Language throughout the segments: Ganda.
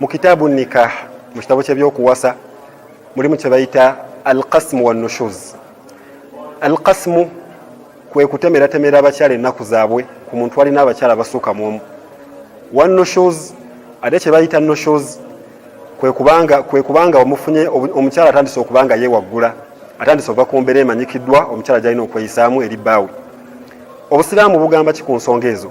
mu kitaabu nikah mu kitabo kyebyokuwasa mulimu kyebayita alkasmu wanushuz alkasmu kwe kutemeratemera abakyala ennaku zaabwe ku muntu alina abakyala basuuka mu omu wanushuz ate kyebayita nushuz kwekubanga omufunye omukyala atandise okubanga yewaggula atandise ova ku mbeera emanyikiddwa omukyala gyalina okweyisaamu eri bbaawe obusiraamu bugamba ki ku nsonga ezo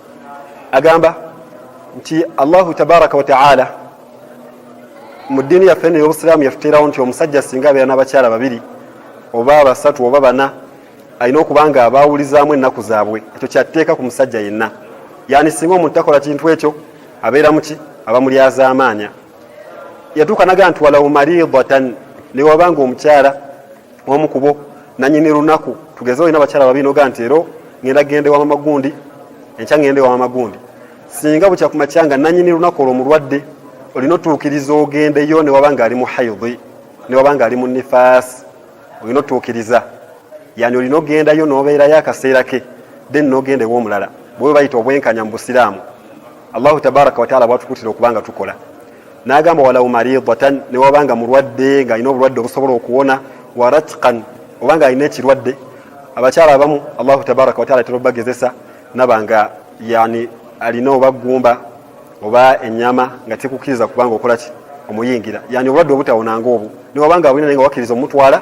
agamba nti allahu tabaraka wataala mu ddiini yaffe eno eyobusiraamu yatuteerawo nti omusajja singa abeera n'abakyala babiri oba basatu oba bana alina okuba nga abaawulizaamu ennaku zaabwe ekyo kyatteeka ku musajja yenna yani singa omuntu takola kintu ekyo abeera muki abamulyazaamaanya yatuuka naga nti walaw maridatan newabanga omukyala omu kubo nanyini lunaku tugeze olina abakyala babinoga nti ero ngenda gende wa mamagundi enkya ngende wa mamagundi singa bukya kumakya nga nanyini lunaku olwo mulwadde olina otuukiriza ogendeyo newaba nga ali mu haidhi newaba nga ali mu nifaasi olina otuukiriza yani olina ogendayo nobeerayo akaseera ke then nogenda ewomulala bwe bayita obwenkanya mu busiraamu allahu tabaraka wataala bwatukutira okubanga tukola n'agamba walau maridatan ne waba nga mulwadde ng'alina obulwadde obusobola okuwona waratkan oba ng'alina ekirwadde abakyala abamu allahu tabaraka wataala tera obagezesa naba nga yani alina oba gumba oba enyama nga tekukkiriza kubanga okolaki omuyingira yani obulwadde obutawonanga obwo newabanga abulina naye nga wakkiriza omutwala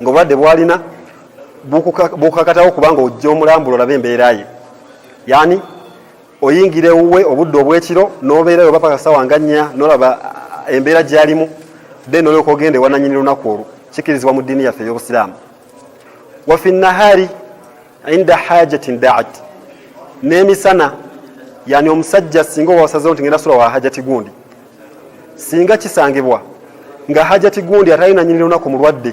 ng'obulwadde bwalina bukakatawo kubanga ojja omulambula olabe embeera ye yaani oyingira ewuwe obudde obwekiro n'obeera yo bapaka sawa nga nnya n'olaba eh, embeera gyalimu then olyoka ogenda ewananyini lunaku olwo kikirizibwa mu ddiini yaffe ey'obusiraamu wafi nahari inda hajatin daat n'emisana yani omusajja singa owasazewo nti ngenda sula wa hajati gundi singa kisangibwa nga hajati gundi atali nanyini lunaku mulwadde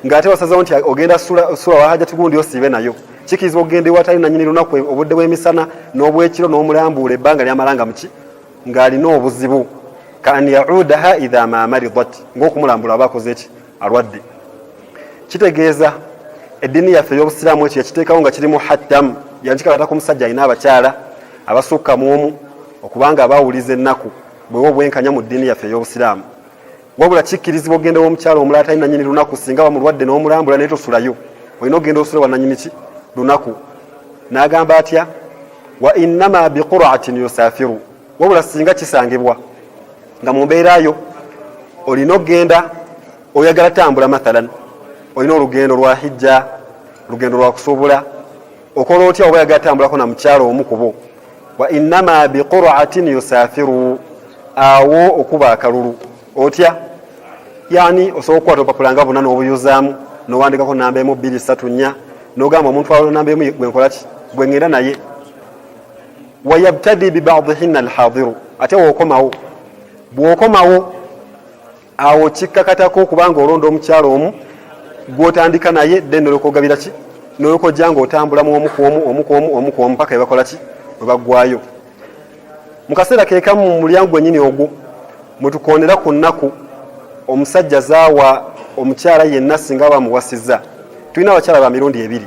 nga ate wasazewo nti ogenda sula, sula wa hajati gundi osiibe nayo kikiriza okugenda ewatali nanyini lunaku obudde bw'emisana n'obwekiro n'omulambuula ebbanga lyamalanga muki ng'alina obuzibu kaan yaudaha idha ma maridat ngaokumulambula aba akoze ki alwadde kitegeeza eddiini yaffe ey'obusiraamu ekyo yakiteekawo nga kirimu hattamu yankikalata ku musajja alina abakyala abasukka mu omu okubanga abawuliza ennaku bwewa obwenkanya mu ddiini yaffe ey'obusiraamu wabula kikkirizibwa okugenda womukyalo omulala tali nanyini lunaku singa bamulwadde n'omulambula naye tosulayo olina okugenda osula wananyini ki lunaku n'agamba atya wa innama biquratin yusafiru wabula singa kisangibwa nga mu mbeerayo olina okugenda oyagala tambula mathalan olina olugendo lwa hijja olugendo lwa kusuubula okola otya oba yagala tambulako na mukyalo omu kubo wa innama biquraatin yusafiru awo okuba akalulu otya yani osobola okukwata opapula nga buna nobuyuzaamu nowandikako namba emu bbiri satu nnya nogamba omuntu alonamba emu gwenkolaki gwengenda naye wayabtadi bibadihinna alhadiru ate wokomawo bwokomawo awo kikkakatako okubanga olonda omukyalo omu gwotandika naye de nolwokogabira ki nolwokojja nga otambula mu omu kwomu omu kwomu omu kwomu paka ebakola ki webaggwayo mu kaseera kekamu mu mulyango gwenyini ogwo mwetukondera ku nnaku omusajja zaawa omukyala yenna singa bamuwasiza tulina abakyala ba mirundi ebiri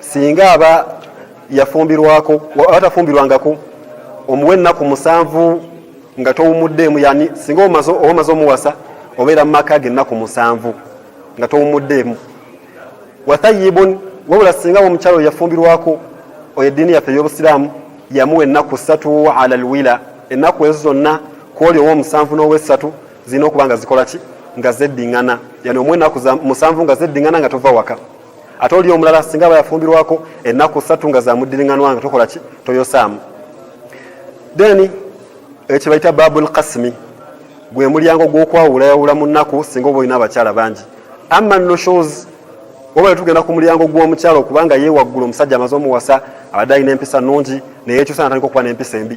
singa aba yafumbirwako atafumbirwangako omuwa ennaku musanvu nga towumuddeemu yani singa omaze omuwasa obeera mu maka ge ennaku musanvu nga towumuddeemu wathayibun wabula singa omukyalo oyo yafumbirwako oyo eddiini yaffe ey'obusiraamu yamuwa ennaku ssatu ala lwila ennaku ezo zonna kwoli owomusanvu n'owessatu zirina okuba nga zikola ki nga zeddiŋŋana yani omu ennaku musanvu nga zeddiŋŋana nga tova waka ate oli omulala singa aba yafumbirwako ennaku ssatu nga zamuddiringanwa nga tokola ki toyosaamu then ekyo bayita babu lkasimi gwe mulyango gw'okwawulayawula mu nnaku singa oba olina abakyala bangi ama noshos oba netugenda ku mulyango gw'omukyala okubanga yewaggula omusajja amaze omuwasa abadde alina empisa nungi naye ekyusa natandika okuba n'empisa embi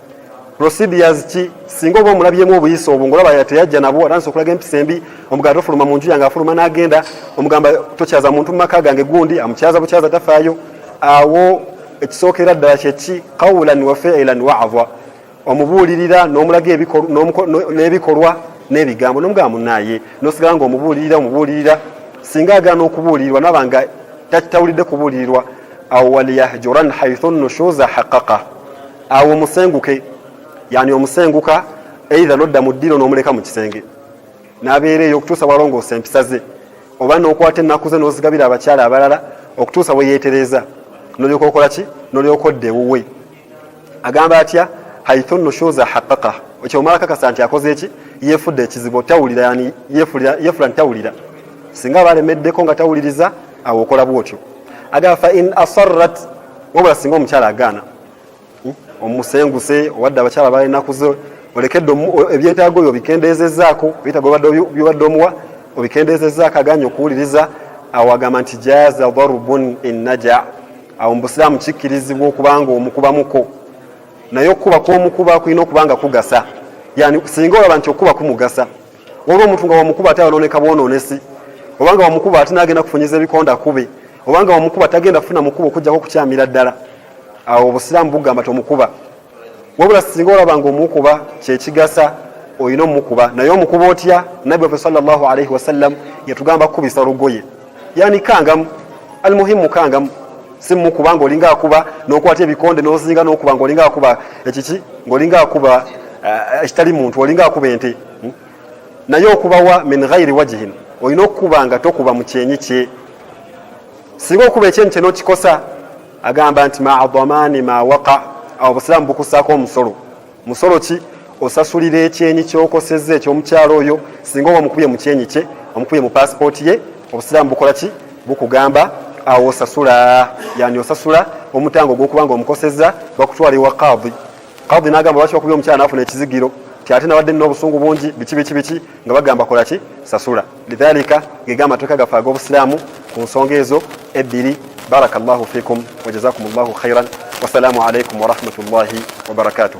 procedures ki singa oba omulabyemu obuyisa obwo ngolaba yateyajja nabwo atansi okulaga empisa embi omugala tofuluma mu nju yange afuluma n'agenda omugamba tokyaza muntu mu maka gange gundi amukyaza bukyaza tafaayo awo ekisookera ddala kyeki qawlan wa fiilan waava omubuulirira n'omulaga n'ebikolwa n'ebigambo nomugamba munaye nosigala nga omubuulirira omubuulirira singa agaana okubuulirirwa naba nga takitawulidde kubuulirirwa awo waliyahjuran haithu nushuza haqaqa awo omusenguke yani omusenguka eitha nodda mu ddiiro n'omuleka mu kisenge n'abeera eyo okutuusa walongoosa empisa ze oba n'okwata ennaku ze n'ozigabira abakyala abalala okutuusa bwe yeetereeza nolyoka okola ki nolyoka odda ewuwe agamba atya haithu nushuza haqaqa ekyo omala kakasa nti akoze eki yefudde ekizibu tawulira yani yefula nti tawulira singa aba alemeddeko nga tawuliriza awo okola bwotyo agamba fa in asarrat wabula singa omukyala agaana omusenguse owadde abakyala balina kuze olekedde ebyetaago byo obikendeezezaako ebyetaago byobadde omuwa obikendeezezaako aganye okuwuliriza awo agamba nti jaaza darubun ennaja awo mubusiraamu kikkirizibwa okubanga omukubamuko naye okukuba kwomukuba kulina okuba nga kugasa yani singa olaba nti okukuba kumugasa waliwo omuntu nga wamukuba ate ayonooneka bwonoonesi obanga wamukuba ate nagenda kufunyiza ebikonda kube obanga wamukuba tagenda kufuna mukuba okujjako okukyamira ddala awo obusiraamu bugamba tomukuba wabula singa olaba nga omukuba kyekigasa olina omukuba naye omukuba otya nabbi wafe salllahu alaihi wasallam yatugamba kukubisa lugoye yani kangamu almuhimu kangamu simukuba nga olinga akuba nokwata ebikonde nozinga nokuba nga olinga akuba ekiki ngaolinga akuba eh, ekitali muntu olinga akuba ente hmm? naye okubawa min ghairi wajihin olina okukuba nga tokuba mukyenyi kye singa okuba ekyenyi kyenokikosa agamba nti maadhamani ma waqa obusiraamu bukusaako omusolo musolo ki osasulira ekyenyi kyokosezza ekyomukyalo oyo singa oba omukubye mu kyenyi kye omukubye mu pasipooti ye obusiraamu bukola ki bukugamba awo osasula yani osasula omutango ogwokuba nga omukosezza bakutwala ewa kaadi kaadi nagamba lwaki wakubye omukyala nafuna ekizigiro ti ate nawadde nina obusungu bungi biki biki biki nga bagamba kola ki sasula lidhalika gega amateeka gaffe ag'obusiraamu ku nsonga ezo ebbiri barakallahu fikum wajazakum llahu khairan wasalaamu alaikum warahmatullahi wabarakatuh